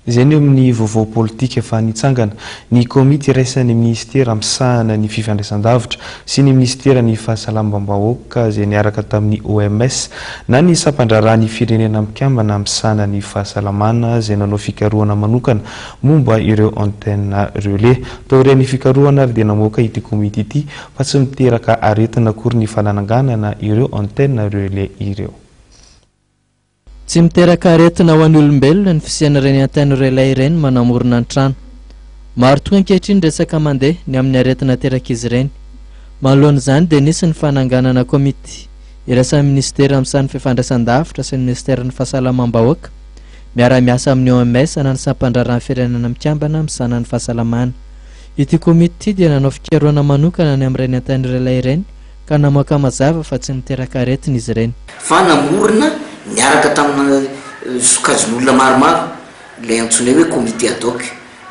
Izay ny eo amin'ny vaovao politika efa nitsangana. Ny komity iraisan'ny minisitera misahana ny fifandraisandavitra sy ny minisiteran'ny Fahasalamam-bahoaka izay niaraka tamin'ny OMS na ny sampan-draharahan'ny firenena mikambana misahana ny fahasalamana izay nanao fikarohana manokana momba ireo antenne relais. Taorian'ny fikarohana ary dia namoaka ity komity ity fa tsy miteraka aretina akory ny fanananganana ireo antenne relais ireo. Tsy miteraka aretina ho an'ny olombelona ny fisian'ireny antennes relais ireny manamorona ny trano. Maro tokoa ankehitriny ny resaka mandeha ny amin'ny aretina aterak'izy ireny. Manoloana izany dia nisy ny fananganana komity iraisan'ny minisitera amin'ny sahan'ny fifandraisandavitra sy ny minisiteran'ny fahasalamam-bahoaka miara-miasa amin'ny OMS na ny sampandraharahan'ny firenena mikambana misahana ny fahasalamana. Ity komity ity dia nanao fikarohana manokana ny amin'ireny antennes relais ireny ka namoaka mazava fa tsy miteraka aretina izy ireny. Fa namorona niaraka tamina sokajin'olona maromaro ilay antsoinay hoe comité ad hoc.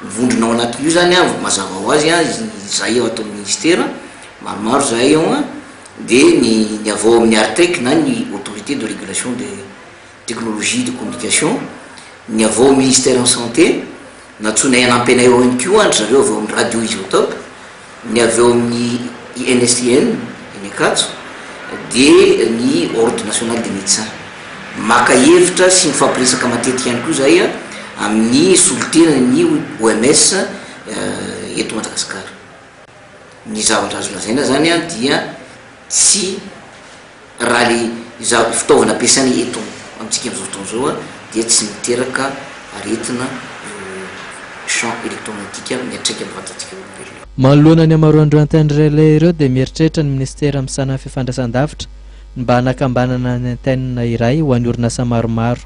Mivondrona ao anatin'io izany an, mazava ho azy an, izahay ao ato amin'ny Ministera, maromaro izahay ao an, dia ny avy ao amin'ny Artec na ny Autorité de Régulation des. Technologie de communication, ny avy ao Ministeran'ny Santé, nantsoinay hanampy anay ao ihany koa an-dry zareo avy ao amin'ny Radio Isotope, ny avy ao amin'ny INSTN eny Ankatso, dia ny Ordre National des Médecins. Maka hevitra sy mifampiresaka matetika ihany koa izahay amin'ny solontenan'ny OMS eto Madagasikara. ny zavatra azo lazaina zany an dia tsy raha le zav- fitaovana ampiasaina eto amintsika am'zao fotoana zao an dia tsy miteraka aretina io champ electromagnetique io miatraika ny vatantsika olombelona. Manoloana ny hamaroan-dReantenne Relais ireo dia mieritreritra ny Minisitera misana ny Fifandraisandavitra ny mba hanakambanana ny Antenne iray ho an'ny orinasa maromaro.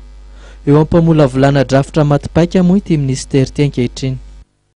Eo am-pamolavolana drafitra maty paika moa ity Minisitera ity ankehitriny.